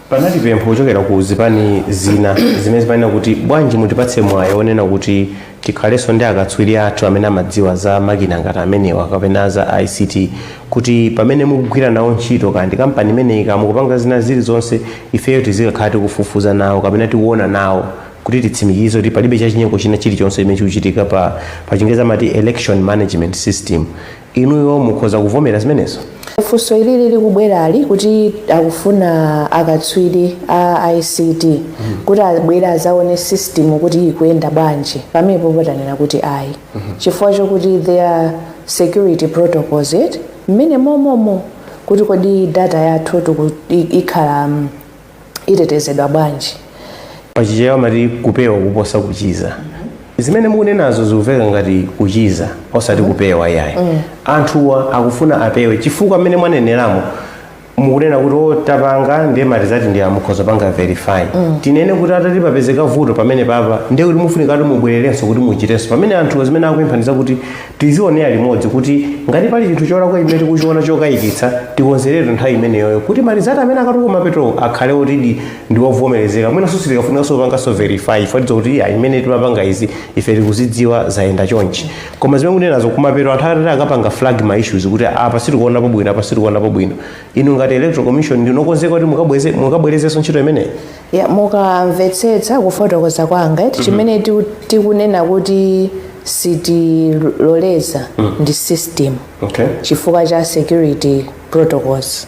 panali pempho kuchokera ku zipani zina zimene zimanena kuti bwanji mutipatse mwayi onena kuti tikhalenso ndi akatswiri athu amene amadziwa za makina ngati amenewa kapena za ict kuti pamene mukugwira nawo ntchito kaya ndi kampani imeneyi kaya mukupanga zina zilizonse ifeyo tizikakhala tikufufuza nawo kapena tikuona nawo kuti titsimikize kuti palibe chachinyengo china chilichonse chimene chikuchitika pa pachingerezi amati election management system Inuyo mukhoza kuvomera zimenezo? Funso ilili likubwerali kuti akufuna akatswiri a ICT kuti abwere azaone system kuti ikuyenda bwanji pamenepo patanena kuti ayi chifukwa chokuti there are security protocols it mmene momomo kuti kodi data yathu tiku- i- ikhala mm, itetezedwa bwanji pachichewa amati kupewa kuposa kuchiza zimene mukunenazo zikuveka ngati kuchiza osati kupewa yayi anthuwa akufuna apewe chifukwa mmene mwaneneramo mukunena kuti o tapanga ndiye marizati ndi awa mukhoza kupanga verify tinene kuti patati papezeka vuto pamenepapa ndiye kuti mufunika kuti mubwererenso kuti muchitenso pamene anthuwa zimene akupempha n'zakuti Tizionera limodzi kuti ngati pali chinthu cholakwa chimene tikuchiona chokayikitsa, tikonzeretu nthawi imeneyoyo kuti marizati amene akatuluka kumapetowo akhale otidi ndi ovomerezeka. Mwinanso sitikafunikanso kupanganso verify chifukwa tidziwa kuti iya imene timapanga izi ife tikuzidziwa zayenda chonchi. Koma zimene mukunenazo kumapeto anthu atati akapanga flag ma issues kuti "Ah, apa sitikuonapo bwino, apa sitikuonapo bwino. Inu ngati electoral commission ndinu okonzeka kuti mukabweze mukabwerezenso ntchito imeneyi? ya mukamvetsetsa kufotokoza kwanga eti chimene tiku- tikunena kuti sitiloleza ndi system okay chifukwa cha security protocols